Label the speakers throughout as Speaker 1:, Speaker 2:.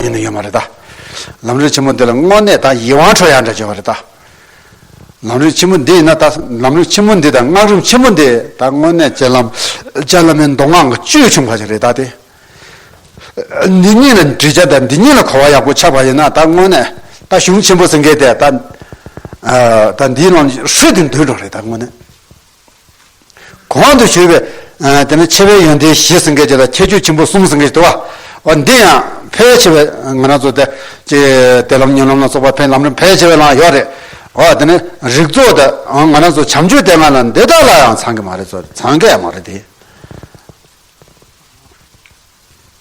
Speaker 1: ཡིན་ནི་ཡོད་མ་རེད་ད། ལམ་རིམ་ཆེན་མོ་འདི་ལ་དངོས་གནས་ད་ཡིད་དབང་འཕྲོག་ཡ་འདྲ་བྱེད་པ་རེད་ད། ལམ་རིམ་ཆེན་མོ་འདི་ཡིན་ན་ད་ལམ་རིམ་ཆེན་མོ་འདི་དང་སྔགས་རིམ་ཆེན་མོ་འདི་ད་དངོས་གནས་སྤྱན་ལམ་སྤྱན་ལམ་མའི་མདོ་སྔགས་ཀྱི་བཅུད་ཕྱུངས་པ་ཞིག་རེད་ད་དེ། འདི་གཉིས་ལ་འདྲིས་ཆ་དང་འདི་གཉིས་ལ་གོ་བ་ཡག་པོ་ཆགས་པ་ཡིན་ན་ད་དངོས་གནས་ད་གཞུང་ཆེན་པོ་ཟེར་མཁན་དེ་ད་ད་འདིའི་ལམ་ཧྲིལ་དུ་འདུས་འགྲོ་རེད་ད་དངོས་གནས། གོང་དུ་ཞུས་པའི། དེ་ནི་ཆེ་བའི་ཡོན་ཏན་བཞི་སེང་གེ་བརྒྱད་དང་ཁྱད་ཆོས་ཆེན་པོ་གསུམ་སེང་གེ་བཞི་དོ། འོ་འདི་ཡང་ཕལ་ཆེ་བས་ང་རང་ཚོ་དེ། ཅི། དད་ལམ་ཉོན་ལམ་ལ་སོགས་པ་ཕན་ལམ་རིམ་ཕལ་ཆེ་བས་ལའང་ཡོད་རེད། འོ་དེ་ནི་རིགས་ཚོགས་དེ། ང་རང་ཚོ་བྱམས་ཆོས་དེ་ང་ལ་འདི་དག་ལའང་ཚང་གི་མ་རེད་ཚོ་ཚང་གི་ཡང་མ་རེད་དེ།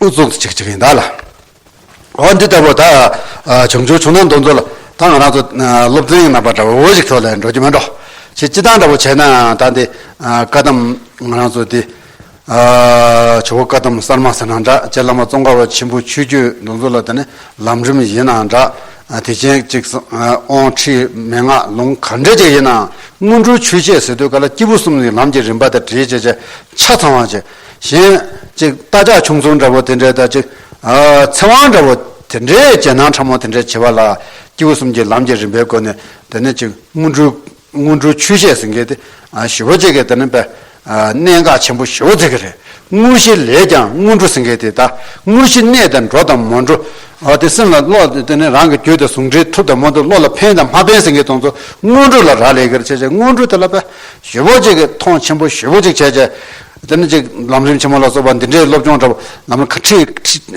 Speaker 1: དབུ་གཙུག་ཏུ་བྱེད་ཀྱི་ཡིན་ད་ལ། འོ་འདི་ལྟ་བུ་ད་བྱུང་ཆོག་ཆུང་ན་འདོན་ཚོད་ལ་ད་ང་རང་ཚོ་སློབ་ཚན་ཡང་ནང་པ་འདྲ་བོ་ཞིག་ཐོག་ལས་འགྲོ་རྒྱུ་མ་འགྲོ་ཞེས་སྤྱི་བཏང་འདྲ་བོ་བྱས་ནའང་ད་འདི་བཀའ་གདམས་ང་རང་ཚོ་འདི་ཇོ་བོ་བཀའ་གདམས་གསར་མ་ཟེར་ན་འདྲ་ལྕེ་བླ་མ་ཙོང་ཁ་བ་ཆེན་པོའི་ཆོས་བརྒྱུད་འདོན་ཚོད་ལ་ད་ནི་ལམ་རིམ་ཡིན་ནའང་འདྲ་དེ་ཆེན་གཅིག་ཨོང་ཁྲིད་མན་ངག་ལུང་ག་འདྲ་ཅིག་ཡིན་ནའང་སྔོན་འགྲོའི་ཆོས་འཆད་ཟེར་དུས་ག་ལ་སྐྱེས་བུ་གསུམ་ནི་ལམ་གྱི་རིམ་པ་དང་བྲིས་བྱས་བྱས་ཆ་ཚང་བ་ཅིག། གཞན། ཅིག་རྟ་ལྕག་ཆུང་ཚོང་འདྲ་བོ་དེ་འདྲས་དང་ཅིག། ཚེ་དབང་འདྲ་བོ་དེ་འདྲས་རྒྱལ་ནང་ཕྲ་མོ་དེ་འདྲས་བྱེད་པ་ལ། སྐྱེས་བུ་གསུམ་གྱི་ལམ་གྱི་རིམ་པའི་སྒོ་ནས་དེ་ནི་ཅིག་སྔོན་འགྲོའི། སྔོན་འགྲོའི་ཆོས་བཤད་ཟིན་གི། ཞི་བ་བྱེད་གི་དེ་ནི་བས། གནད་འགག་ཆེན་པོ་ཞི་བ་བརྩི་གི་རེད། དངོས་གཞི་ལས་ཀྱང་སྔོན་འགྲོ་ཟིན་གི་དེ་ད། དངོས་གཞི་གནད་དེ་འགྲོ་དང་མ་འགྲོ། དེ་སེམས་ལ་བློ་དེ་ནི་རང་གི་རྒྱུད་དང་ཟུང་འབྲེལ་ཐུབ་དང་མ་ཐུབ་བློ་ལ་ཕན་དང་མ་ཕན་ཟིན་གི་དང་ཚུལ་སྔོན་འགྲོ་ལ་རག་ལས་གིར་བྱེད་ཅིག་སྔོན་འགྲོ་དེ་ལ་བས། ཞོལ་པོ་གཅིག་གིས་ཐོངས་ཆེན་པོ་ཞོལ་པོ་གཅིག་བྱས། དེ་ནི་གཅིག་ལམ་རིམ་ཆེན་མོ་ལ་སོགས་པ་འདི་འདྲའི་སློབ་སྦྱོང་འདྲ་པོ་ལམ་ལ་ཁ་ཁྲིད་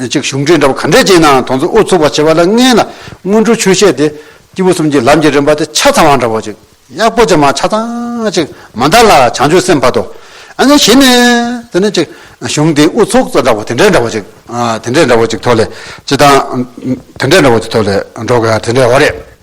Speaker 1: ཅིག་གཞུང་ཁྲིད་འདྲ་པོ་ག་འདྲས་བྱས་ནའང་དོན་ཚོ་ཨུ་ཚུགས་པར་བྱེད་པ་ལ་མངལ་ན་སྔོན་འགྲོའི་ཆོས་བཤད་དེ་སྐྱེས་བུ་གསུམ་གྱི་ལམ་གྱི་རིམ་པ་དེ་ཆ་ཚང་བ་འདྲ་པོ་ཅིག་ཡག་པོ་ཅིག་མ་ཆ་ཚང་ཅིག་མ་འདར་ལ་བྱང་ཆུབ་སེམས་འཕགས་ཏོ། ཨ་ནི་བཞི་ནི། དེ་ནི་གཅིག་གཞུང་དེ་ཨུ་ཚུགས་ཚོ་འདྲ་པོ་དེ་འདྲས་འདྲ་པོ་ཅིག་དེ་འདྲས་འདྲ་པོ་ཅིག་ཐོག་ལས་ཅི་དང། དེ་འདྲས་འདྲ་པོ་ཅིག་ཐོག་ལས་འགྲོ་དགོས་ཡ་དེ་འདྲས་འོ་རེད།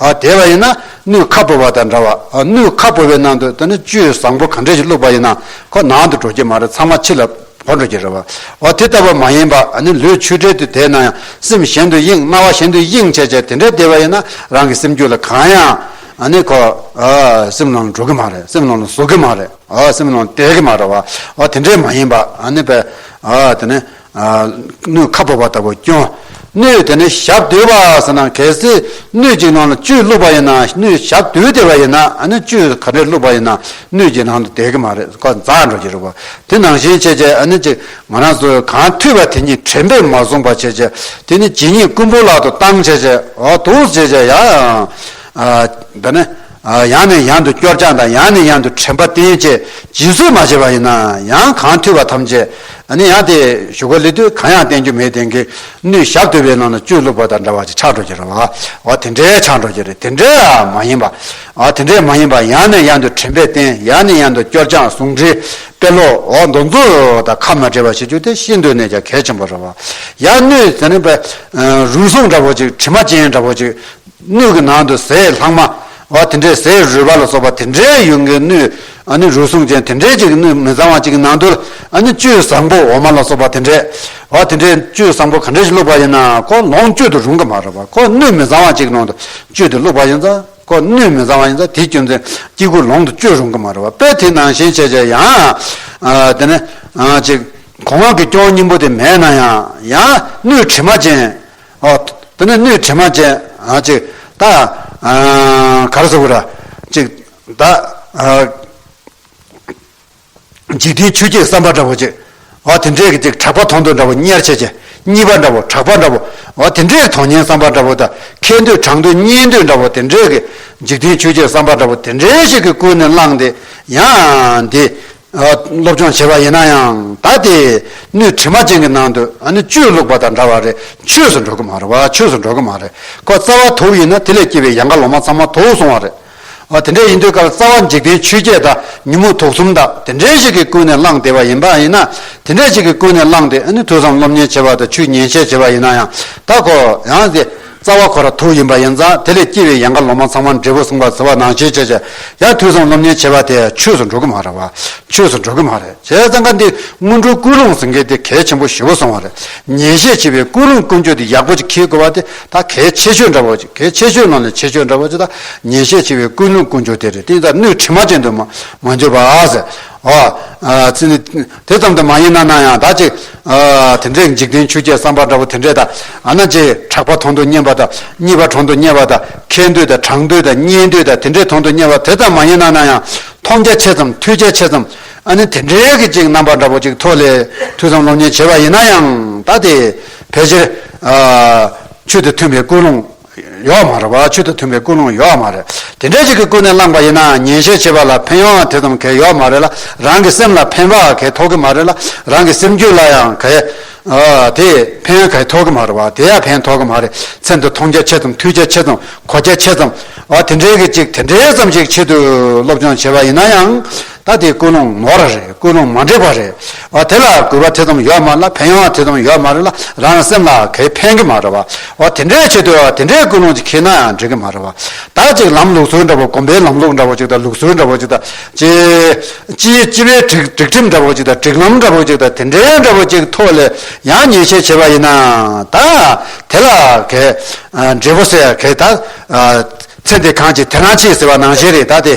Speaker 1: ཨ་དེ་བ་ཡིན་ན་སྣོད་ཁ་བོར་བ་དང་འདྲ་བ་སྣོད་ཁ་བོར་བའི་ནང་དུ་ད་ནི་བཅུད་བཟང་པོ་ག་འདྲས་ཞིག་བླུགས་པ་ཡིན་ན་ཁོ་ནང་དུ་འགྲོ་གི་མ་རེད་ཚང་མ་ཕྱི་ལ་བོར་འགྲོ་གི་རེད་བ་འོ་དེ་ལྟ་བུ་མ་ཡིན་པ་ཨ་ནི་ལུས་ཆུ་འདྲེས་དུས་དེ་ན་ཡང་སེམས་གཞན་དུ་གཡེང་སྣང་བ་གཞན་དུ་གཡེང་བྱས་བྱས་དེ་འདྲས་བསྡད་བ་ཡིན་ན་རང་གི་སེམས་རྒྱུད་ལ་གང་ཡང་ཨ་ནི་ཁོ་སེམས་ནང་ལ་འགྲོ་གི་མ་རེད་སེམས་ནང་ལ་ཟུག་གི་མ་རེད་སེམས་ནང་བསྡད་གི་མ་རེད་བ་འོ་དེ་འདྲས་མ་ཡིན་པ་ཨ་ནི་བས་ད་ནི་སྣོད་ཁ་བབས་པ་ལྟ་བུ་སྐྱོན། སྣོད་དེ་ནི་ཞབས་བརྟོལ་བ་ཟེར་ན་གལ་སྲིད་སྣོད་ཀྱི་ནང་ལ་བཅུད་བླུགས་པ་ཡིན་ན་སྣོད་ཞབས་བརྟོལ་དེ་བ་ཡིན་ན་ནི་བཅུད་ག་འདྲས་བླུགས་པ་ཡིན་ན་སྣོད་ཀྱི་ནང་དུ་བསྡད་གི་མ་རེད་འགོ་འཛག་འགྲོ་གི་རེད་བ་དེ་ནང་བཞིན་བྱས་བྱས་ཨ་ནི་ཅིག་ང་རང་ཚོས་གང་ཐོས་པ་དེ་ཉིད་དྲན་པས་མ་བཟུང་བ་བྱས་བྱས་དེ་ནི་ཇི་སྙེད་རྐུན་པོ་ལག་ཏུ་བཏང་བྱས་བྱས་འོ་དོགས་བྱས་བྱས་ཡ། ད་ནི། ཡང་ནས་ཡང་དུ་སྐྱོར་སྦྱངས་དང་ཡང་ནས་ཡང་དུ་དྲན་པ་བརྟན་བཅས་སྦྱིན་སྲེག་མ་བྱས་པ་ཡིན་ན་ཡང་གང་ཐུལ་བ་ཐམས་ཅད་ནི་ཡང་དེ་ཞུ་ག་ལི་དུས་གང་ཡང་བསྟན་རྒྱུ་མེད་དེང་གི་ནུས་ཞབས་དུལ་བའི་ནང་ན་བཅུད་བླུགས་པ་དང་འདྲ་བ་ཅིག་ཆགས་འགྲོ་གི་རེད་བ་བ་དེ་འདྲའི་ཆགས་འགྲོ་གི་རེད་དེ་འདྲའི་ཡང་མ་ཡིན་པ་དེ་འདྲའི་མ་ཡིན་པ་ཡང་ནས་ཡང་དུ་དྲན་པས་བརྟན་ཡང་ནས་ཡང་དུ་སྐྱོར་སྦྱངས་ཟུང་འབྲེལ་དཔེ་ཀློག་འོག་མདོ་འཛུགས་དང་ཁ་མ་བྲལ་བ་བྱེད་རྒྱུ་དེ་ཤིན་ཏུ་ནས་ཀྱང་གལ་ཆེན་པོ་རེད་བ་ཡང་ནུས་ཟེར་ནི་པའི་རུལ་སུངས་འདྲ་བོ་ཅིག་དྲི་མ་ཅན་འདྲ་བོ་ཅིག་སྣོད་ཀྱི་ནང་དུ་ཟས་ལྷག་མ་བ་དེ་འདྲའི་ཟས་རུལ་བ་ལ་སོགས་པ་དེ་འདྲའི་ཡུན་གྱི་སྣོད་རུལ་སུངས་ཅན་དེ་འདྲའི་ཅིག་གི་སྣོད་མི་གཙང་བ་ཅིག་གི་ནང་དུ་བཅུད་བཟང་པོ་འོ་མ་ལ་སོགས་པ་དེ་འདྲའི་བ་དེ་འདྲའི་བཅུད་བཟང་པོ་ག་འདྲ་ཞིག་བླུགས་པ་ཡིན་ན་ཁོ་ལོངས་སྤྱོད་དུ་རུང་གི་མ་རེད་པ་ཁོ་སྣོད་མི་གཙང་བ་ཅིག་ནང་དུ་བཅུད་དེ་བླུགས་པ་ཡིན་ཙང་ཁོ་སྣོད་མི་གཙང་བ་ཡིན་ཙང་དེའི་སྐྱོན་ཚན་གཅིག་པུ་ལོངས་དུ་སྤྱོད་རུང་གི་མ་རེད་པ་དཔེར་དེའི་ནང་ཤན་ཕྱེད་ཅིག་ཡང་དེ་ནས་ཅིག་གོང་འོག་གི་སྐྱོན་གཉིས་པོ་དེ་མེད་ན་ཡང་ཡང་སྣོད་དྲི་མ་ཅན་ཨོ། དེ་ནས་སྣོད་དྲི་མ་ཅན། ཅིག། ད། གར་སོགས་ཀུན། ཅིག། ད། འཇིག་རྟེན་ཆོས་ཀྱི་བསམ་པ་འདྲ་བོ། ཅིག། ཨོ། དེ་འདྲའི་གཅིག་གྲགས་པ་མཐོང་འདོད་འདྲ་བོ་གཉེར་བྱེད་ཅིག། གཉིས་པ་འདྲ་བོ་གྲགས་པ་འདྲ་བོ། ཨོ། དེ་འདྲའི་དོན་གཉེར་བསམ་པ་འདྲ་བོ། ད། མཁས་འདོད་གྲགས་འདོད་གཉེར་འདོད་འདྲ་བོ་དེ་འདྲའི། འཇིག་རྟེན་ཆོས་ཀྱི་བསམ་པ་འདྲ་བོ་དེ་འདྲའི་ཞིག་གིས་ཀུན་ནས་བསླངས་ཏེ། ཡང། འདི། སློབ་སྦྱོང་བྱེད་པ་ཡིན་ན་ཡང་ད་དེ་སྣོད་དྲི་མ་ཅན་གྱི་ནང་དུ་ཨ་ནི་བཅོས་བླུགས་པ་དང་འདྲ་བ་རེད་ཆོས་སུ་འགྲོ་གི་མ་རེད་བ་ཆོས་སུ་འགྲོ་གི་མ་རེད་ཁོ་རྩ་བ་དུག་ཡིན་ན་དེ་ལས་སྐྱེས་པའི་ཡང་ཁ་ལོ་མ་ཚང་མ་དུག་སོང་བ་རེད་བ་དེ་འདྲ་ཡིན་དུས་ཀར་རྩ་བ་འཇིག་རྟེན་ཆོས་བརྒྱད་དག་ཉིན་མོ་དུག་གསུམ་དག་དེ་འདྲའི་ཞིག་གི་ཀུན་ནས་བསླངས་བསྡད་པ་ཡིན་པ་ཡིན་ན་དེ་འདྲའི་ཞིག་གི་ཀུན་ནས་བསླངས་ཏེ་ཨ་ནི་ཐོས་བསམ་སློབ་གཉེར་བྱེད་པ་དང་ཆོས་ཉན་བཤད་བྱེད་པ་ཡིན་ན་ཡང་ད་ཁོ་ཡང་དེ་རྩ་བ་ཁོ་ར་ཐུག་ཡིན་པ་ཡིན་ཙང་དེ་ལས་སྐྱེས་པའི་ཡན་ག་ལོ་མ་ཚང་མ་འབྲས་བུ་གསུངས་པར་བརྩི་བ་ནང་བྱེད་བྱས་བྱས་ཡར་ཐོས་བསམ་སློབ་གཉེར་བྱས་པ་དེ་ཆོས་སུ་འགྲོ་གི་མ་རེད་བ། ཆོས་སུ་འགྲོ་གི་མ་རེད་བྱས་ཙང་ཀ་འདི་སྔོན་འགྲོའི་ཀུན་སློང་ཟེར་མཁན་དེ་གལ་ཆེན་པོ་ཞེ་བོ་སོང་བ་རེད། ཉན་བཤད་བྱེད་པའི་ཀུན་སློང་ཀུན་སྤྱོད་དེ་ཡག་པོ་ཅིག་འཁེལ་དགོས་བ་དེ་དག་གལ་ཆེ་ཤོས་འདྲ་བོ་ཅིག་གལ་ཆེ་ཤོས་ནང་ནས་ཆེ་ཤོས་འདྲ་བོ་ཅིག་དང་ཉན་བཤད་བྱེད་པའི་ཀུན་སློང་ཀུན་སྤྱོད་དེ་རེད་དེ་ཡིན་ཙང་སྣོད་དྲི་མ་ཅན་དུ་མ་མ་འགྱུར་བ། ཨ། དེ་ཙམ་དུ་མ་ཡིན་ན་ན་ཡང་དག་ཅིག། དེ་འདྲའི་འཇིག་རྟེན་ཆུ་སྐྱེས་བསམ་པ་འདྲ་བོ་དེ་འདྲས་དག་ཨ་ན་ཅེ། གྲགས་པ་མཐོང་དུ་སྙན་པ་དང་གཉིས་པ་གྲོང་དུ་སྙན་པ་དང་མཁས་འདོད་དང་གྲགས་འདོད་དང་སྙན་འདོད་དང་དེ་འདྲས་མཐོང་དུ་སྙན་པ་དེ་ཙམ་མ་ཡིན་ན་ན་ཡང། མཐོང་རྒྱ་ཆེ་ཙམ་ཐོས་རྒྱ་ཆེ་ཙམ། ཨ་ནི་དེ་འདྲའི་གི་ཅིག་རྣམ་པ་འདྲ་བོ་ཅིག་ཐོ་ལེ་ཐུ་ཙམ་སློབ་གཉེར་བྱེད་པ་ཡིན་ན་ཡང་དག་དེ། ཕལ་ཆེར། ཆོས་དེ་མཐུན་པའི་ཀུན་སློང། ཡོག་མ་རེད་བ་ཆོས་དང་མཐུན་པའི་ཀུན་སློང་ཡོག་མ་རེད་དེ་འདྲས་ཅིག་གི་ཀུན་ནས་བསླངས་པ་ཡིན་ནའང་ཉན་བཤད་བྱེད་པ་ལ་ཕན་ཡོང་བ་དེ་ཙམ་གས་ཡོག་མ་རེད་ལ་རང་གི་སེམས་ལ་ཕན་བའང་གས་ཐོག་གི་མ་རེད་ལ་རང་གི་སེམས་རྒྱུད་ལ་ཡང་གས་དེ་ཕན་གས་ཐོག་གི་མ་རེད་བ་དེ་ཡང་ཕན་ཐོག་གི་མ་རེད་མཚན་དུ་མཐོང་རྒྱ་ཆེ་ཙམ་ཐོས་རྒྱ་ཆེ་ཙམ་གོ་རྒྱ་ཆེ་ཙམ་བ་དེ་འདྲས་ཀྱི་ཅིག་དེ་འདྲས་ཙམ་ཅིག་ཆེད་དུ་སློབ་སྦྱོང་བྱེད་པ་ཡིན་ན་ཡང་ད་དེ་ཀུན་སློང་ནོར་ར་རེད་ཀུན་སློང་མ་འགྲིག་པ་རེད་བ་དེ་ལ་གུས་པ་དེ་ཙམ་ཡོད་མ་ལ་ཕན་ཡོང་དེ་ཙམ་ཡོད་མ་རེད་ལ་རང་རང་སེམས་ལ་གས་ཕན་གི་མ་རེད་བ་བ་དེ་འདྲའི་ཆེད་དུ་དེ་འདྲའི་ཀུན་སློང་ཅིག་ཁེལ་ན་ཡང་འགྲིག་གི་མ་རེད་བ་དག་ཅིག་ལམ་ལུགས་སྲོལ་འདྲ་བོ་གོམ་པའི་ལམ་ལུགས་འདྲ་བོ་ཅིག་དང་ལུགས་སྲོལ་འདྲ་བོ་ཅིག་དང་སྤྱིའི་སྤྱི་པའི་སྒྲིག་སྒྲིག་ཁྲིམས་འདྲ་བོ་ཅིག་དང་སྒྲིག་ལམ་འདྲ་བོ་ཅིག་དང་དེ་འདྲའི་འདྲ་བོ་ཅིག་ཐོག་ལས་ཡང་ཉེས་ཆད་བྱས་པ་ཡིན་ན་ད་དེ་ལ་གས་འབྲས་བུ་སེ་གས་ད་ཚེ་འདི་གང་ཅིག་དེ་རང་ཆེ་ཟེར་བ་ནང་བཞིན་རེད་ད་དེ།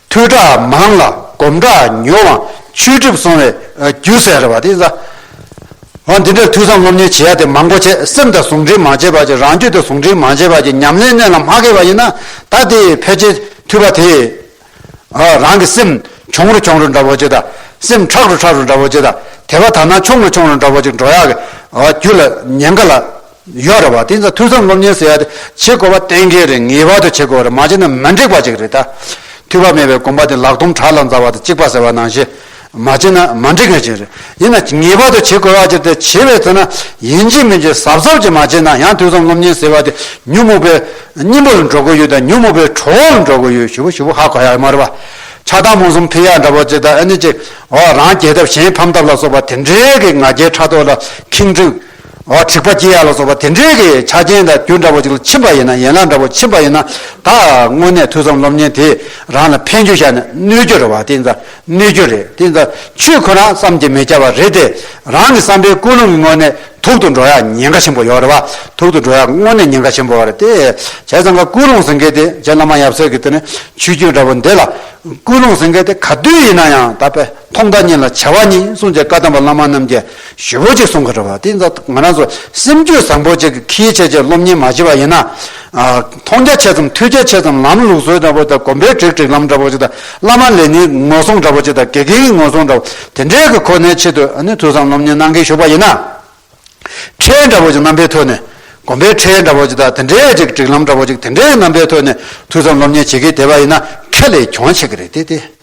Speaker 1: ཐོས་གྲྭ་མང་ལ་སྒོམ་གྲྭ་ཉུང་བ་ཆོས་སྒྲིབ་སྲོང་བའི་རྒྱུ་ཟེར་བ་དེ་ཟ། འོ་འདི་འདྲའི་ཐོས་བསམ་སློབ་གཉེར་བྱེད་ཡ་དེ་མང་པོ་བྱས་སེམས་དང་ཟུང་འབྲེལ་མ་བྱས་པར་གྱི་རང་རྒྱུད་དང་ཟུང་འབྲེལ་མ་བྱས་པར་གྱི་ཉམས་ལེན་གནད་ལ་མ་ཁེལ་བ་ཡིན་ན་ད་དེ་ཕལ་ཆེར་ཐོས་པ་དེས་ཨ་རང་གི་སེམས་གྱོང་རུ་གྱོང་རུ་འདྲ་བོ་ཅིག་དང་སེམས་ཁྲག་རུ་ཁྲག་རུ་འདྲ་བོ་ཅིག་དང་དད་པ་དག་སྣང་ཆུང་རུ་ཆུང་རུ་འདྲ་བོ་ཅིག་འགྲོ་ཡག་གི་རྒྱུད་ལ་ཉེན་ཁ་ལ་ཡོད་རེད་བ་དེ་ཚོ་ཐུགས་བསམ་སློབ་གཉེར་ཟེར་ཡ་དེ་བྱེད་དགོས་པ་གཏན་འཁེལ་རེད་ངེས་པར་དུ་བྱེད་དགོས་རེད་མ་བྱས་ན་མི་འགྲིག་པ་ཅིག་རེད་ད། ཐུགས་བག་མེད་པའི་དགོངས་པ་དེ་ལག་ཐུམ་བྲག་ལ་འཛག་པ་དང་གཅིག་པ་ཟེར་བ་ནང་བཞིན། མ་བྱས་ན་མ་འགྲིག་མཁན་ཞིག་རེད། ཡིན་ན་ངེས་པར་དུ་བྱེད་དགོས་བ་ཅིག་དེ་བྱེད་པའི་ཚེ་ན་ཡིན་གཅིག་མིན་གཅིག་གཟབ་གཟབ་ཅིག་མ་བྱས་ན་ཡང་ཐུགས་བསམ་སློབ་གཉེར་ཟེར་བ་དེ་ཉོན་མོངས་པའི་སྙིང་པོ་ལ་འགྲོ་གི་ཡོད་དང་ཉོན་མོངས་པའི་གྲོགས་བོ་ལ་འགྲོ་གི་ཡོད་ཞུ་བོ་ཞུ་བོ་ཧ་གོ་ཡ་མ་རེད་བ། ཆགས་སྡང་རྨོངས་གསུམ་འཕེལ་ཡ་འདྲ་བོ་ཅིག་དང་ཨ་ནི་ཅིག་འོ་རང་གྱེས་ཐབས་གཞན་ཕམ་ཐབས་ལ་སོགས་པ་དེ་འདྲའི་གི་ང་རྒྱལ་ཕྲག་དོག་ལ་ཁེངས་དྲུག། འོ་འཁྲིག་པ་སྐྱི་གཡའ་ལ་སོགས་པ་དེ་འདྲའི་གི་ཆ་རྐྱེན་དང་རྒྱུ་འདྲ་པོ་ཅིག་ལ་ཕྱིན་པ་ཡིན་ན་ཡན་ལག་འདྲ་པོ་ཕྱིན་པ་ཡིན་ན་ད་དངོས་གནས་ཐོས་བསམ་སློབ་གཉེར་དེ་རང་ལ་ཕན་རྒྱུ་ཤར་ནས་གནོད་རྒྱུ་རེད་བ་དེ་ད་གནོད་རྒྱུ་རེད་དེ་ད་ཆུས་ཁོ་རང་བསམ་གྱི་མི་བསྐྱལ་བ་རེད་དེ་རང་གི་བསམ་པའི་ཀུན་སློང་གི་དངོས་གནས་ཐུག་ཏུ་འགྲོ་ཡ་ཉེན་ཁ་ཆེན་པོ་ཡོད་རེད་བ་ཐུག་ཏུ་འགྲོ་ཡ་དངོས་གནས་ཉེན་ཁ་ཆེན་པོ་རེད་དེ་བྱས་ཙང་ཀ་ཀུན་སློང་ཟེར་མཁན་དེ་བྱས་བླ་མ་ཡབ་སྲས་ཀྱི་དེ་ནི་ཆོས་བརྒྱུད་འདྲ་པོ་འདི་ལ་ཀུན་སློང་ཟེར་མཁན་དེ་ག་དུས་ཡིན་ན་ཡང་ད་པས་ཐོག་མཐའ་གཉིས་ལ་བྱ་བ་གཉིས་སྲུང་བྱེད་བཀའ་གདམས་པ་བླ་མ་རྣམས་ཀྱི། ཞུ་བོ་ཅིག་སོང་གི་རེད་བ། དེ་ད་ང་རང་ཚོ་སེམས་རྒྱུད་བཟང་པོ་ཅིག་གི་ཁྱིའི་ཆེད་ཆེད་སློབ་གཉེར་མ་བྱེད་པ་ཡིན་ན། མཐོང་རྒྱ་ཆེ་ཙམ་ཐོས་རྒྱ་ཆེ་ཙམ་ལམ་ལུགས་སྲོལ་འདྲ་པོ་དང་གོམ་པའི་དྲེག་དྲེག་ལམ་འདྲ་པོ་ཅིག་དང་བླ་མ་ལས་ནི་ངོ་སྲུང་འདྲ་པོ་ཅིག་དང་དགེ་རྒན་གྱི་ངོ་སྲུང་འདྲ་པོ་དེ་འདྲའི་གི་ཁོ་ནའི་ཆེད་དུ་ཐོས་བསམ་སློབ་གཉེར་གནང་གིན་ཞུགས་པ་ཡིན་ན། ཁྲལ་འདྲ་པོ་ཅིག་རྣམ་པའི་ཐོག་ནས་གོམ་པའི་ཁྲལ་འདྲ་པོ་ཅིག་དང་དེ་འདྲའི་ཅིག་དྲེག་ལམ་འདྲ་པོ་ཅིག་དེ་འདྲའི་རྣམ་པའི་ཐོག་ནས་ཐོས་བསམ་སློབ་གཉེར་བྱེད་གིན་བསྡད་པ་ཡིན་ན་ཁྱེད་ལས་གྱོང་ཆེ་གི་རེད་དེ་དེ།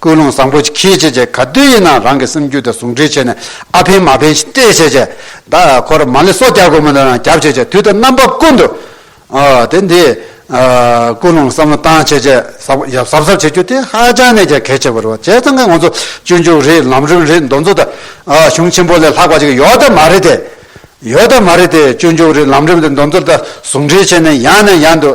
Speaker 1: ཀུན་སློང་བཟང་པོ་ཁྱེད་ཀྱིས་ཀྱི་ག་དུས་ཡིན་ནའང་རང་གི་སེམས་རྒྱུད་དང་ཟུང་འབྲེལ་བྱས་ནས་ཨ་ཕན་མ་ཕན་ཞེས་སྤྲད་བྱས་ཀྱི་ད་ཁོ་ར་མ་ལས་སོ་སྐྱར་དགོས་མིན་དུ་རང་གྱབ་བྱས་ཀྱི་དུས་དང་རྣམ་པ་ཀུན་ཏུ་དེ་འདི་ཀུན་སློང་བསམ་བློ་བཏང་བྱས་ཀྱི་ཟབ་ཡབ་ཟབ་ཟབ་བྱེད་རྒྱུ་དེ་ཧ་ཅང་ནས་ཀྱི་གལ་ཆེ་བོ་རེད་བྱས་ཙང་ཁ་ང་ཚོ་སྤྱོད་འཇུག་རེད་ལམ་རིམ་རེད་འདོན་ཚོ་ད་གཞུང་ཆེན་པོ་ལས་ལྷག་པ་ཅིག་ཡོད་ད་མ་རེད་དེ། ཡོད་ད་མ་རེད་དེ་སྤྱོད་འཇུག་རེད་ལམ་རིམ་རེད་འདོན་ཚོ་ད་ཟུང་འབྲེལ་བྱས་ནས་ཡང་ནས་ཡང་དུ་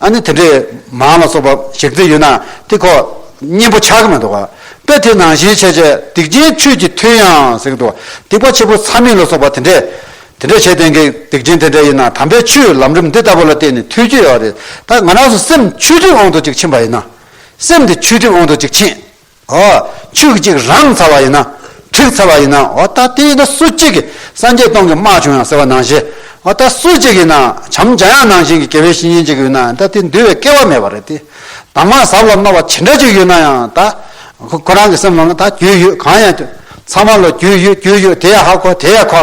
Speaker 1: ཨ་ནི་དེ་འདྲའི་མང་ལ་སོགས་པ་ཞིག་རྩིས་ཡོད་ན་དེ་ཁོ་གཉེན་པོ་ཆགས་ཀྱི་མི་འདུག་པས་དེ་ནང་བཞིན་བྱས་བྱས་སྡིག་ཅན་ཆོས་ཀྱི་མཐུས་ཡང་ཟེར་གྱི་འདུག་སྡིག་པ་ཆེན་པོ་ཚ་མིན་ལ་སོགས་པ་དེ་འདྲས་དེ་འདྲས་བྱས་དེང་གི་སྡིག་ཅན་དེ་འདྲས་ཡིན་ན་དམ་པའི་ཆོས་ལམ་རིམ་འདི་ལྟ་བུ་ལ་བརྟེན་ནས་ཐུགས་རྒྱུད་ཡོད་རེད་ད་ང་རང་སུ་སེམས་ཆུས་བསྒྲིབས་འོང་དུ་ཅིག་ཕྱིན་པ་ཡིན་ན་སེམས་དེ་ཆུས་བསྒྲིབས་འོང་དུ་ཅིག་ཕྱིན། ཨོ། ཕྱུགས་གཅིག་རང་ཚར་བ་ཡིན་ན། གྲིག་ཚར་བ་ཡིན་ན། ཨོ་ད་དེ་ཡིན་ན་སུ་གཅིག་གིས་སངས་རྒྱས་སྟོང་གི་དམག་བྱུང་ཡང་ཟེར་བ་ནང་བཞིན། ཨོ་ད་སུ་གཅིག་གིས་ན་བྱམས་བྱ་ཡང་ནང་བཞིན་གྱི་དགེ་བའི་བཤེས་གཉེན་གཅིག་ཡོད་ན་ཡང་ད་དེ་འདུལ་བའི་སྐལ་བ་མེད་པ་རེད་དེ། དྭངས་མ་ཟབ་ལ་རྣོ་བ་ཇི་འདྲ་ཅིག་ཡོད་ན་ཡང་ད། ཁོ་རང་གི་སེམས་ལ་ང་ད་རྒྱུས་ཡོད་གང་ཡང། ཚང་མ་ལ་རྒྱུས་ཡོད་རྒྱུས་ཡོད་དེ་ཡང་ཧ་གོ་དེ་ཡང་གོ།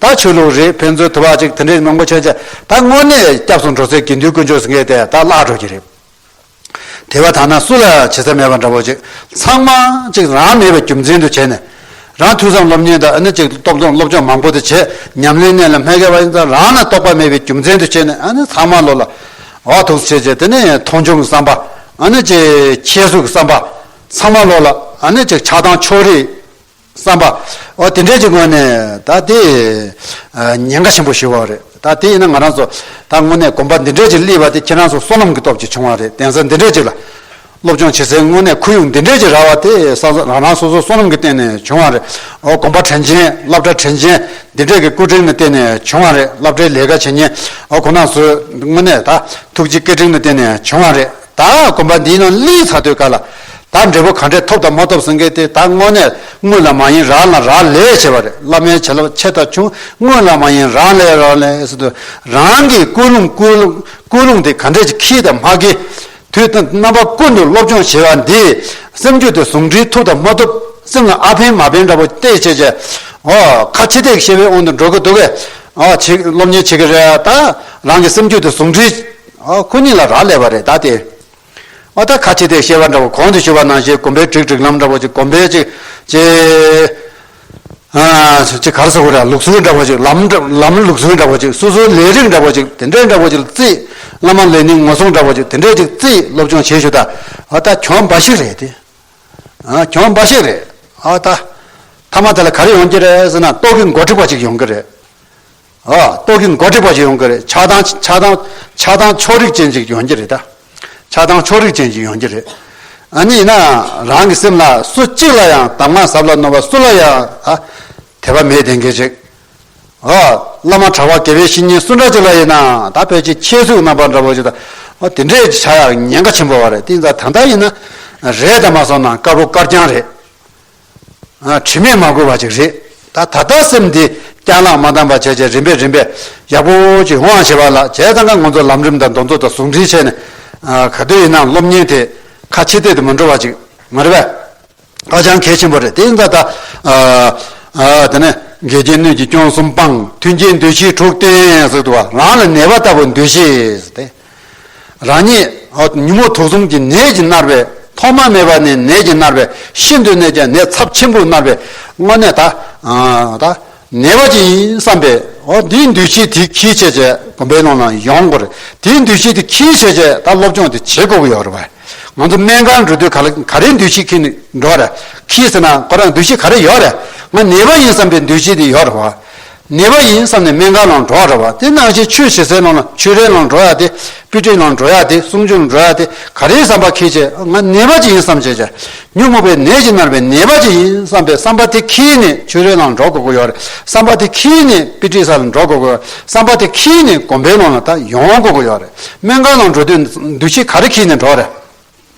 Speaker 1: ད་ཆོས་ལུགས་རིགས་ཕན་ཚུན་དུ་བ་ཅིག་དེ་འདྲའི་མང་པོ་ཆོས་བྱེད་ད་དངོས་གནས་སྐྱབས་སུ་འགྲོ་ཚོད་དགེ་འདུན་དཀོན་མཆོག་ཟེར་མཁན་དེ་ད་བརླག་འགྲོ་གི་རེད། དེ་བ་ད་ནང་སུ་ལ་བྱེད་ས་མེད་པ་འདྲ་བོ་ཅིག་ཚང་མ་ཅིག་རང་མེད་པའི་རྒྱུ་མཚན་དུ་བྱས་ནས། རང་ཐུགས་བསམ་སློབ་གཉེར་དང་ཨ་ནི་ཅིག་སྟོབས་སྡོམ་སློབ་སྦྱོང་མང་པོ་དེ་བྱས་ཉམས་ལེན་གནད་ལ་མེ་བསྐལ་བ་ཡིན་ཙང་རང་ལ་རྟོགས་པ་མེད་པའི་རྒྱུ་མཚན་དུ་བྱས་ནས་ཨ་ནི་ཚང་མ་བློ་ལ་བག་ཐུགས་ཆེ་ཆེ་དེ་ནས་མཐོང་ཆུང་གི་བསམ་པ་ཨ་ནི་ཅིག་ཁྱད་གསོད་ཀྱི་བསམ་པ་ཚང་མ་བློ་ལ་ཨ་ནི་ཅིག་ཆགས་སྡང་ཕྱོགས་རིས། བསམ་པ། འོ་དེ་འདྲའི་ཅིག་དངོས་ནས་ད་དེ། ཉེན་ཁ་ཆེན་པོ་བྱུར་བ་རེད་ད་དེ་ཡིན་ན་ང་རང་ཚོ། ད་དངོས་གནས་གོམ་པ་འདི་འདྲའི་ཅིག་བསླིས་པ་དེ་ཁྱེད་རང་ཚོ་བསོད་ནམས་ཀྱི་སྟོབས་ཀྱིས་བྱུང་བ་རེད་གདན་ས་འདི་འདྲའི་ཅིག་ལ། སློབ་སྦྱོང་བྱེད་སའི་དངོས་གནས་ཁུལ་ཡོངས་འདི་འདྲའི་ཅིག་རག་བ་དེ་ས་ས་རང་རང་སོ་སོའི་བསོད་ནམས་ཀྱི་སྟེང་ནས་བྱུང་བ་རེད་འོ་གོམ་པ་དྲན་ཅན་བསླབ་གྲྭ་དྲན་ཅན་འདི་འདྲས་ཀྱི་སྐུ་དྲིན་ནི་སྟེང་ནས་བྱུང་བ་རེད་བསླབ་གྲྭའི་ལས་ཀ་བྱེད་ཉེན་འོ་ཁོ་ན་ཚོའི་དངོས་གནས་ད་ཐུགས་རྗེ་སྐད་དྲིན་ནི་སྟེང་ནས་བྱུང་བ་རེད། ད་གོམ་པ་འདིའི་ནང་གླིང་ཚ་ཐོད་དཀར་ལ་ད་འབྲས་བུ་ག་འདྲས་ཐོབ་དང་མ་ཐོབ་ཟེར་མཁན་དེ་ད་དངོས་གནས་དངུལ་ལ་མ་ཡིན་རང་ལ་རག་ལས་བྱས་པ་རེད་བླ་མའི་བྱིན་རླབས་ཆེ་ཐག་ཆུང་དངུལ་ལ་མ་ཡིན་རང་ལས་རང་ལས་དུ་རང་གིས་ཀུན་སློང་ཀུན་སློང་དེ་ག་འདྲས་ཀྱི་ཁྱི་དང་མ་ཁྱི་དུས་དང་རྣམ་པ་ཀུན་ཏུ་སློབ་སྦྱོང་བྱེད་པ་འདིས་སེམས་རྒྱུད་དེ་ཟུང་འབྲེལ་ཐུབ་དང་མ་ཐུབ་སེམས་ལ་ཨ་ཕན་མ་ཕན་འདྲ་པོ་བལྟས་བྱས་བྱས་ཨོ་ཁ་ཆེ་ཐེག་ཤེས་པའི་དབང་དུ་འགྲོ་གི་འདུག་གས་ཨོ་བྱེད་སློབ་གཉེར་བྱེད་ཀྱི་རེད་ད་རང་གི་སེམས་རྒྱུད་དེ་ཟུང་འབྲེལ། ཁོ་གཉིས་ལ་རག་ལས་པ་རེད་ད་དེ། ཨོ་ད་ཁ་ཆེ་དེས་བཤད་པ་འདྲ་བོ་གོང་དུ་ཞུ་བ་ནང་བཞིན་གོམ་པའི་བསྒྲིགས་བསྒྲིགས་ལམ་འདྲ་བོ་ཅིག་གོམ་པའི་ཅིག། ཅེ། ཅེ་གར་ཟེར་བ་རེད་ལུགས་སྲོལ་འདྲ་བོ་ཅིག་ལམ། ལམ་ལུགས་སྲོལ་འདྲ་བོ་ཅིག་སོ་སོའི་ལས་རིགས་འདྲ་བོ་ཅིག་དེ་འདྲས་འདྲ་བོ་ཅིག་ལ་བརྩིས། བླ་མ་ལས་ནི་ངོ་སྲུང་འདྲ་བོ་ཅིག་དེ་འདྲས་ཅིག་བརྩིས་སློབ་སྦྱོང་བྱེད་ཞུ་ད། ཨོ་ད་གྱོང་འབའ་ཞིག་རེད་དེ། གྱོང་འབའ་ཞིག་རེད་ཨོ་ད། མཐའ་མ་དེ་ལ་ག་རེ་ཡོང་གི་རེད་ཟེར་ན་ཏོག་གི་མགོ་འཁྲིགས་པ་ཅིག་ཡོང་གི་རེད། རྟོག་གེ་མགོ་དྲེགས་པ་ཞིག་ཡོང་གི་རེད། ཆགས་སྡང་ཆགས་སྡང་ཆགས་སྡང་ཕྱོགས་རིགས་ཅན་ཞིག་ཡོང་གི་རེད་ད། ཆགས་སྡང་ཕྱོགས་རིགས་ཅན་ཞིག་ཡོང་གི་རེད། ཨ་ནི་ཡིན་ན་ཡང་རང་གི་སེམས་ལ་སུ་གཅིག་ལ་ཡང་གདམས་ངག་ཟབ་ལ་རྣོ་བ་སུ་ལ་ཡང་དད་པ་མེད་དེ་འགལ་ཅིག། བླ་མ་གྲྭ་བ་དགེ་བའི་བཤེས་གཉེན་སུ་འདྲ་ཅིག་ལ་ཡིན་ནའང་ད་བོད་ཀྱི་ཁྱད་གཟུགས་རྣམ་པ་འདྲ་བོ་ཞིག་ད་དེ་འདྲས་ཀྱི་བྱ་ཡག་ཉེན་ཁ་ཆེན་པོ་བ་རེད་ཏིང་ཙག་ད་ལྟ་ཡིན་ན་རེད་ད་མ་སོང་ན་དཀར་པོ་དཀར་རྐྱང་རེད། དྲི་མས་མ་གོས་པ་ཅིག་རེད་ད། ད་ལྟ་སེམས་འདི་རྐྱང་ལག་མ་འདང་པ་བྱས་བྱས་རིམ་པས་རིམ་པས་ཡག་པོ་ཅིག་ཡོང་བ་བྱེད་པ་ལགས་བྱས་ད་ང་ངོ་ཚོ་ལམ་རིམ་དང་འདོན་ཚོ་དང་ཟུང་འབྲེལ་བྱས་ནས། ག་དུས་ཡིན་ནའང་སློབ་གཉེར་དེ་ཁ་ཕྱི་བལྟས་དུ་མི་འགྲོ་བ་ཅིག་མ་རེད་པས། ཧ་ཅང་གལ་ཆེན་པོ་རེད་དེ་འདྲ་ད། དེ་ནས་འགལ་རྐྱེན་སྣོད་ཀྱི་སྐྱོན་གསུམ་སྤངས་མཐུན་རྐྱེན་འདོད་བཞིའི་དྲུག་བསྟན་ཟེར་འདུག་བ་རང་ལ་ནད་པ་ལྟ་བུ་འདོད་བཞི་ཟེར་ཏེ། རང་ཉིད་ཉིན་མོ་དུག་གསུམ་གྱི་ནད་ཀྱིས་མནར་བས་ཐོག་མ་མེད་པ་ནས་ནད་ཀྱིས་མནར་བས་ཤིན་ཏུ་ནས་ཀྱང་ནད་ཚབས་ཆེན་པོས་མནར་བས་དངོས་གནས་ད་ད་ནད་པ་ཅིག་ཡིན་བསམ་པས་དེའི་འདུས་བྱས་དེ་གྱིས་བྱས་བྱས་བུམ་པའི་ནང་ན་ཡོང་དགོས་རེད་དེའི་འདུས་བྱས་དེ་གྱིས་བྱས་བྱས་ད་སློབ་སྦྱོང་དེ་བྱེད་དགོས་ཀྱི་ཡོད་རེད་བ། ང་ཚོ་སྨན་ཁང་འགྲོ་དུས་ག་ལ་ག་རེའི་འདུས་བྱས་གྱིས་ནས་འགྲོ་རེད་གྱིས་ཟེར་ན་ཁོ་རང་འདུས་བྱས་ག་རེ་ཡོད་རེད་ང་ནད་པ་ཡིན་བསམ་པའི་འདུས་བྱས་དེ་ཡོད་རེད་བ། ནད་པ་ཡིན་བསམ་ནས་སྨན་ཁང་ནང་འགྲོ་ར་བ་དེ་ནང་བཞིན་ཆོས་བྱེད་སའི་ནང་ལ་ཆོས་རའི་ནང་འགྲོ་ཡ་དེ་དཔེ་ཁྲིད་ནང་འགྲོ་ཡ་དེ་གསུང་ཆོས་ནང་འགྲོ་ཡ་དེ་ག་རེའི་བསམ་པ་ཁེལ་བྱས་ང་ནད་པ་ཅིག་ཡིན་བསམ་བྱས་བྱས་ཉོན་མོངས་པའི་ནད་ཀྱིས་མནར་བའི་ནད་པ་ཅིག་ཡིན་བསམ་པའི་བསམ་པ་དེ་ཁེལ་ནས་ཆོས་རའི་ནང་འགྲོ་དགོས་ཀྱི་ཡོད་རེད་བསམ་པ་དེ་ཁེལ་ནས་དཔེ་ཁྲིད་ས་ལ་འགྲོ་དགོས་ཀྱི་ཡོད་བསམ་པ་དེ་ཁེལ་ནས་དགོན་པའི་ནང་ལ་ད་ཡོང་དགོས་ཀྱི་ཡོད་རེད་སྨན་ཁང་ནང་འགྲོ་དུས་འདུ་ཤེས་ག་རེ་ཁེལ་ནས་འགྲོ་རེད།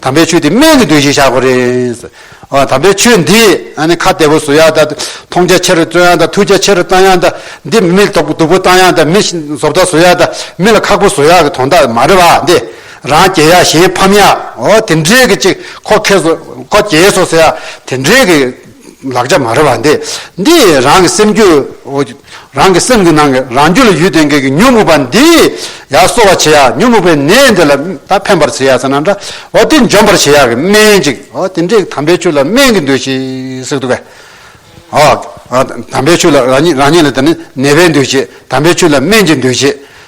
Speaker 1: དམ་པའི་ཆོས་འདི་སྨད་ཀྱི་དུས་ཞིག་བཞག་གོ་རེད། ཨོ་དམ་པའི་ཆོས་འདི་ཨ་ནི་ཁ་བདེ་པོ་བཟོ་ཡ་ད། མཐོང་རྒྱ་ཆེ་རུ་བརྩོན་ཡ་ད་ཐུགས་རྒྱ་ཆེ་རུ་བཏང་ཡ་ད། འདི་མི་མིག་དོག་སྡུག་པོ་བཏང་ཡ་ད་མི་བཟོ་བལྟ་བཟོ་ཡ་ད། མི་ལ་ཁག་པོ་བཟོ་ཡ་གི་དོན་དག་མ་རེད་བ་འདི། རང་སྐྱེ་ཡ་གཞན་ཕམ་ཡ་ཨོ་དེ་འདྲས་གི་ཅིག་ཁོ་ཁེ་སོ་ཁོ་སྐྱེ་སོ་ཟེར་ཡ་དེ་འདྲས་གི། ལག་ཆ་མ་རེད་པ་འདི་འདི་རང་གི་སེམས་རྒྱུད་རང་གི་སེམས་ཀྱི་ནང་གི་རང་རྒྱུད་ལ་ཡུལ་དེ་འགས་ཀྱི་ཉོན་མོངས་པ་འདི་ཡར་གསོ་བར་བྱེད་ཡ་ཉོན་མོངས་པའི་ནད་འདི་ལ་ད་ཕན་པར་བྱེད་ཡ་ཟེར་ན་འདྲ་འོ་དེ་འཇོམས་པར་བྱེད་ཡ་གི་སྨན་ཅིག་འོ་དེ་འདྲའི་དམ་པའི་ཆོས་ལ་སྨན་གྱི་འདུ་ཤེས་ཟེར་གི་འདུག་གས། ཨོ་དམ་པའི་ཆོས་ལ་རང་ཉིད་རང་ཉིད་ལ་དེ་ནི་ནད་པའི་འདུ་ཤེས་དམ་པའི་ཆོས་ལ་སྨན་གྱི་འདུ་ཤེས་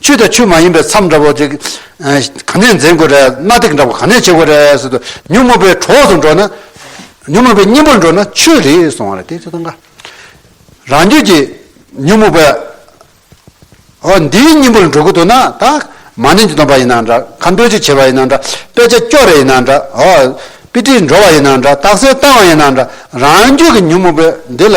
Speaker 1: ཆུ་དང་ཆུ་མ་ཡིན་པའི་མཚམས་འདྲ་བོ་དེ་ག་ནས་འཛིན་དགོས་རེད་གནའ་དེང་འདྲ་བོ་ག་ནས་བྱེད་དགོས་རེད་ཟེར་དུས་ཉོན་མོངས་པའི་གྲོགས་སུ་འགྲོ་ན་ཉོན་མོངས་པའི་གཉེན་པོར་འགྲོ་ན་ཆོས་རེད་གསུང་བ་རེད་དེ་ཚོ་དང་ག་རང་རྒྱུད་ཀྱི་ཉོན་མོངས་པའི་འོ་འདིའི་གཉེན་པོར་འགྲོ་གི་འདུག་ན་ད་མ་ནིང་གི་སྡོམ་པ་ཡིན་ན་འདྲ་ག་འདོད་ཆགས་བྱེད་པ་ཡིན་ན་འདྲ་དཔེ་ཆ་སྐྱོ་རེ་ཡིན་ན་འདྲ་འོ་དཔེ་ཁྲིད་འགྲོ་བ་ཡིན་ན་འདྲ་རྟགས་གསལ་བཏང་བ་ཡིན་ན་འདྲ་རང་རྒྱུད་ཀྱི་ཉོན་མོངས་པའི་འདི་ལ་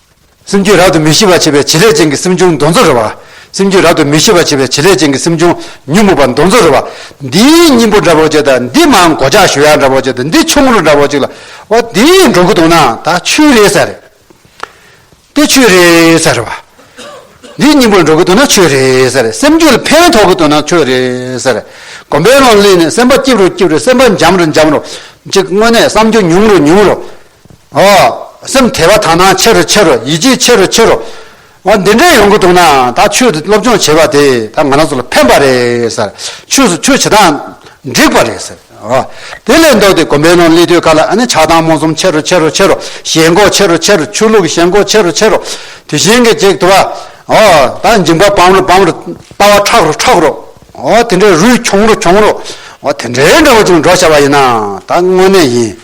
Speaker 1: སེམས་རྒྱུད་རབ་ཏུ་མི་ཤིས་པར་བྱེད་པའི་བྱེད་ལས་ཅན་གྱི་སེམས་བྱུང་མདོ་མཚོན་རོལ་བ། སེམས་རྒྱུད་རབ་ཏུ་མི་ཤིས་པར་བྱེད་པའི་བྱེད་ལས་ཅན་གྱི་སེམས་བྱུང་ཉོན་མོངས་པ་མདོ་མཚོན་རོལ་བ། འདིའི་སྙིང་པོ་འདྲ་བོ་ཅིག་དང་འདི་མའང་གོ་ཆག་ཞོལ་ཡ་འདྲ་བོ་ཅིག་དང་འདི་ཆུང་ངུ་འདྲ་བོ་ཅིག་ལ། འོ་དེ་ཡི་འགྲོ་ཀུན་དོང་ན་ད་ཆུད་རེ་ས་རེད། དེ་ཆུད་རེ་ས་རེད་བ། འདིའི་སྙིང་པོ་འགྲོ་ཀུན་དོང་ན་ཆུད་རེ་ས་རེད་སེམས་རྒྱུད་ལ་ཕན་ཐོགས་ཀུན་དོང་ན་ཆུད་རེ་ས་རེད་སྒོམ་པའི་ཀློང་ལས་ནས་སེམས་པ་སྐྱིབས་རོ་སྐྱིབས་རེ་སེམས་པ་འཇམ་རོ་འཇམ་རོ་ཅིག་དངོས་གནས་བསམ་རྒྱུ་ཉུང་རོ་ཉུང་རོ། ཨོ། སེམས་དལ་བ་དག་སྣང་ཆེ་རུ་ཆེ་རུ་ཡིད་ཆེས་ཆེ་རུ་ཆེ་རུ། འོ་འདི་འདྲས་ཡོང་གི་འདུག་ན་ད་ཆོས་དེ་སློབ་སྦྱོང་བྱེད་པ་དེ་ད་ང་རང་ཚོ་ལ་ཕན་པ་རེད་ཟེར། ཆོས་སུ་ཆོས་བྱེད་སྟངས་འགྲིག་པ་རེད་ཟེར། ཨོ། དེ་ལས་ལྡོག་སྟེ་གོམ་པའི་ནང་སླེབས་དུས་ཁ་ལ་ཨ་ནི་ཆགས་སྡང་རྨོངས་གསུམ་ཆེ་རུ་ཆེ་རུ་ཆེ་རུ་ཞེན་འགོག་ཆེ་རུ་ཆེ་རུ་ཆོས་ལུགས་ཞེན་འགོག་ཆེ་རུ་ཆེ་རུ། དེ་བཞིན་གྱི་ཅིག་དུ་བ། ཨོ། ད་འཇིམ་པ་བམ་རུ་བམ་རུ། ལྟ་བ་ཁྲག་རུ་ཁྲག་རུ། ཨོ་དེ་འདྲས་རུས་གྱོང་རུ་གྱོང་རུ། ཨོ་དེ་འདྲས་འདྲ་བོ་ཅིག་འགྲོ་བྱ་བ་ཡིན་ན་ད་དངོས་གནས་ཡིན།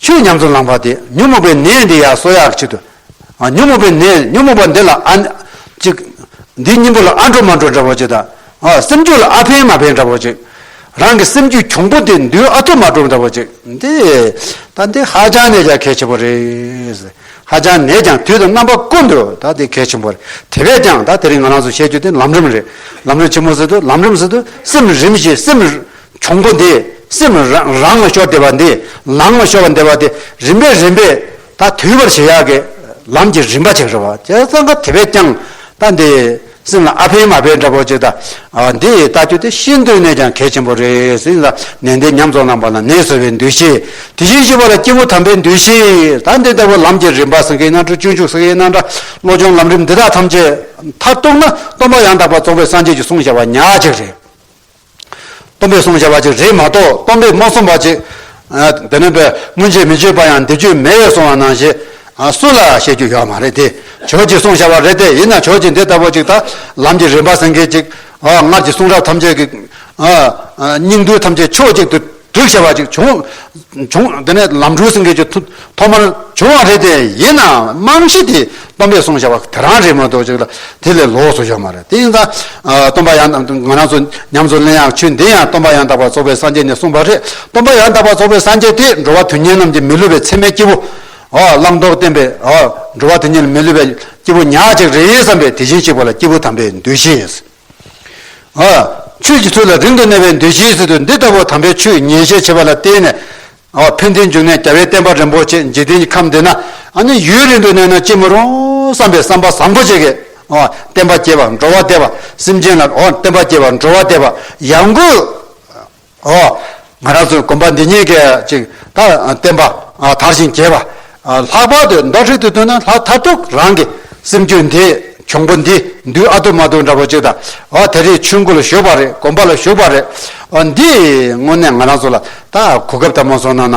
Speaker 1: ཆོས་ཉམས་སུ་བླངས་པ་དེ་ཉོན་མོངས་པའི་ནད་འདི་ཡ་གསོ་ཡ་བྱེད་དོ། ཉོན་མོངས་པའི་ནད་ཉོན་མོངས་པ་འདི་ལ་ཨ། ཅིག། འདིའི་སྙིང་པོ་ལ་ཨ་འགྲོ་མ་འགྲོ་འདྲ་བོ་ཅིག་དང། སེམས་རྒྱུད་ལ་ཨ་ཕན་མ་ཕན་འདྲ་བོ་ཅིག། རང་གི་སེམས་རྒྱུད་གྱོང་པོ་དེ་མདུན་ཨ་ཐུབ་མ་ཐུབ་འདྲ་བོ་ཅིག་འདི། ད་འདི་ཧ་ཅང་ནས་ཀྱང་གལ་ཆེན་པོ་རེད། ཧ་ཅང་ནས་ཀྱང་དུས་དང་རྣམ་པ་ཀུན་ཏུ་ད་འདི་གལ་ཆེན་པོ་རེད། དེ་བས་ཀྱང་ད་དེ་རིང་ང་རང་ཚོ་བཤད་རྒྱུ་དེ་ལམ་རིམ་རེད། ལམ་རིམ་ཆེན་མོ་ཟེར་དུས་ལམ་རིམ་ཟེར་དུས་སེམས་རིམ་བཞིན་སེམས། འབྱུང་པོ་འདི་སེམས་རང་ལ་ཤོར་བདེ་བ་འདི་ལང་ལ་ཤོར་བ་འདི་བ་དེ་རིམ་པས་རིམ་པས་ད་དུལ་བར་བྱེད་ཡག་གི་ལམ་གྱི་རིམ་པ་ཅིག་རེད་བ་ཅེ་ས་ག་དེ་བས་ཀྱང་ད་འདི་སེམས་ལ་ཨ་ཕན་མ་ཕན་འདྲ་པོ་ཅིག་ད་འདི་ལྟ་རྒྱུ་དེ་ཤིན་ཏུ་ནས་ཀྱང་གལ་ཆེན་པོ་རེད་སེམས་ལ་ནད་འདི་ཉམས་རྫོགས་ནང་པ་ན་ནད་གསོ་བའི་འདུས་ཤེས་དེ་བཞིན་གཤེགས་པ་ལ་སྐྱེས་བུ་དམ་པའི་འདུས་ཤེས་ད་འདི་ལྟ་བུ་ལམ་གྱི་རིམ་པ་སེང་གེའི་སྣ་དྲུག་སྤྱོད་འཇུག་སེང་གེའི་སྣ་འདྲ་བློ་སྦྱོང་ལམ་རིམ་འདི་དག་ཐམས་ཅད་མཐར་གཏུགས་ན་སྟོང་པ་ཡང་དག་པར་རྫོགས་པའི་སངས་རྒྱས་ཀྱི་གསུང་བྱ་བ་ཉག་ཅིག་རེད། སྟོང་པའི་བསྲུང་བྱ་བ་ཅིག་རེད་མ་གཏོགས་སྟོང་པའི་མ་བསྲུང་བ་ཅིག་དེ་མིན་པས་སྔོན་ཆད་མི་སྤྱོད་པ་ཡང་འདི་སྤྱོད་མེད་བས་སོང་བ་ནང་བཞིན་སུ་ལ་བཤད་རྒྱུ་ཡོད་མ་རེད་དེ་ཆོས་ཀྱི་བསྲུང་བྱ་བ་རེད་དེ་ཡིན་ན་ཆོས་ཀྱི་འདི་ལྟ་བུ་ཅིག་དང་ལམ་གྱི་རིམ་པ་ཟེར་མཁན་ཅིག་སྔར་གྱི་གསུང་རབ་ཐམས་ཅད་ཀྱི་སྙིང་བསྡུས་ཐམས་ཅད་ཕྱོགས་གཅིག་ཏུ་བསྒྲིགས་བྱ་བ་ཅིག་བྱུང། དེ་ནས་ལམ་འགྲུལ་ཟིང་གེ་ཆུ་ཐོག་མར་བྱུང་བ་རེད་དེ། ཡིན་ནའང་རྨང་གཞི་དེ་སྟོང་པས་སོང་བྱ་བ་དེ་རང་རེད་མ་གཏོགས་ཅིག་ལ་དེ་ལས་ལོགས་སུ་ཡོད་མ་རེད། དེ་ཡིན་ཙང། སྟོང་པ་ཡང་དག་ང་རང་ཚོ་ཉམས་སུ་ལེན་ཡང་ཆོས་འདི་ཡང་སྟོང་པ་ཡང་དག་པར་རྫོགས་པའི་སངས་རྒྱས་ནས་གསུངས་པ་རེད། སྟོང་པ་ཡང་དག་པར་རྫོགས་པའི་སངས་རྒྱས་དེས་འགྲོ་བ་དོན་གཉེར་རྣམས་ཀྱི་མི་བསླུ་བའི་ཚད་མའི་སྐྱེ་བོ། བླང་དོར་བསྟན་པས། འགྲོ་བ་དོན་གཉེར་མི་བསླུ་བའི་སྐྱེ་བོ་ཉག་གཅིག་རེད་བསམ་པས་དེ་བཞིན་གཤེགས་པ་ལ་སྐྱེས་བུ་དམ་པའི་འདུ་ཤེས། ཨ། ཆོས་ཀྱི་ཚུལ་ལ་རིང་དུ་གནས་པའི་འདུ་ཤེས་སུ་འདི་ལྟ་བུ་དམ་པའི་ཆོས་ཉན་བཤད་བྱེད་པ་ལ་བརྟེན་ནས། ཨ། ཕན་བདེའི་འབྱུང་གནས་རྒྱ་བའི་བསྟན་པ་རིན་པོ་ཆེ་འཇིག་རྟེན་གྱི་ཁམས་འདི་ན་ཨ་ནི་ཡུན་རིང་དུ་གནས་ན་ཅི་མི་རུང་བསམ་པའི་བསམ་པ་བཟང་པོ་ཅིག་གིས་ཨ། བསྟན་པ་སྐྱེ་བར་འགྲོ་བ་བདེ་བ་སེམས་ཅན་ལ་ཨ། བསྟན་པ་སྐྱེ་བར་འགྲོ་བ་བདེ་བ་ཡང་དགོས། འོ། ང་རང་ཚོའི་དགོན་པ་འདི་ཉིད་ཀྱི་ཅིག་ད་བསྟན་པ་དར་ཞིང་རྒྱས་པ། ལྷག་པར་དུ་མདོ་ཧྲིལ་དུ་ཐོན་ན་ལྷ་མཐའ་དྲུག་རང་གི་སེམས་རྒྱུད་འདི་འབྱུང་པོ་འདི་འདུལ་ཨ་ཐུ་མ་ཐུ་འདྲ་པོ་ཅིག་དང་དེ་རིང་ཆོས་འཁོར་ལ་བཞུགས་པ་རེད་དགོན་པ་ལ་བཞུགས་པ་རེད། འདིས་དངོས་གནས་ང་རང་ཚོ་ལ་ད་གོ་སྐབས་དམ་མ་སོང་ན་ན་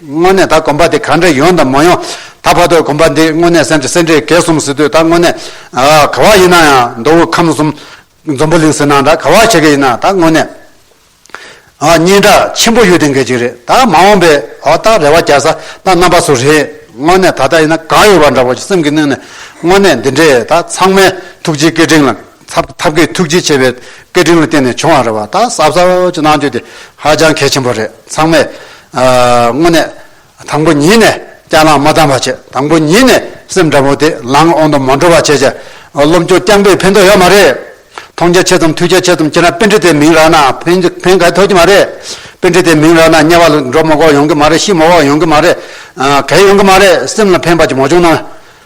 Speaker 1: དངོས་གནས་ད་གོམ་པ་དེ་ག་འདྲ་ཡོང་དང་མ་ཡོང། ད་བར་དུ་གོམ་པ་འདི་དངོས་གནས་སེམས་ཀྱི་སེ་འབྲས་གས་སོང་ཟེར་དུས་ད་དངོས་གནས། ག་བ་ཡིན་ན་ཡང་མདོ་དབུས་ཁམས་གསུམ། འཛོམས་པོ་གླིང་ཟེར་ན་འདྲ་ག་བ་བྱེད་ཀྱི་ཡིན་ན་ད་དངོས་གནས། སྙན་གྲགས་ཆེན་པོ་ཡོད་དེ་འགལ་གྱི་རེད་ད་མ་འོངས་པའི་ཨོ་ད་རེ་བ་རྒྱག་ས་ད་རྣམ་པ་སུ་རེད་དངོས་གནས་ད་ལྟ་ཡིན་ན་གང་ཡོད་པ་འདྲ་བོ་སེམས་ཀྱི་གནས་ནས་དངོས་གནས་འདི་འདྲས་ད་ཚང་མའི་ཐུགས་རྗེའི་སྐད་འཕྲིན་ལ། ཐབས་མཁས་ཐུགས་རྗེ་ཆེ་བའི་སྐད་འཕྲིན་ལ་བརྟེན་ནས་བྱུང་བ་རེད་བ་ད་གསར་གསར་གྱི་གནང་སྤྱོད་དེ་ཧ་ཅང་གལ་ཆེན་པོ་རེད་ཚང་མས་དངོས་གནས་དང་པོ་ཉིད་ནས་སྐྱག་ལངས་མ་གཏང་བ་བྱས་དང་པོ་ཉིད་ནས་སེམས་འདྲ་པོ་དེ་ལངས་འོང་དུ་མ་འགྲོ་བ་བྱས་བྱས་སློབ་འཁྱོར་རྐྱང་པས་ཕན་ཐོག་ཡོད་མ་རེད་མཐོང་རྒྱ་ཆེ་ཙམ་ཐུགས་རྒྱ་ཆེ་ཙམ་བྱས་ན་དཔེ་འདྲི་དེ་མིང་རག་ན་ཕན་ཕན་ག་ཐོག་གི་མ་རེད་དཔེ་འདྲི་དེ་མིང་རག་ན་དམྱལ་བ་ལ་འགྲོ་མགོ་ཡོང་གི་མ་རེད་ཤི་མོ་བ་ཡོང་གི་མ་རེད་གས་ཡོང་གི་མ་རེད་སེམས་ལ་ཕན་པ་ཅིག་མ་བྱུང་ན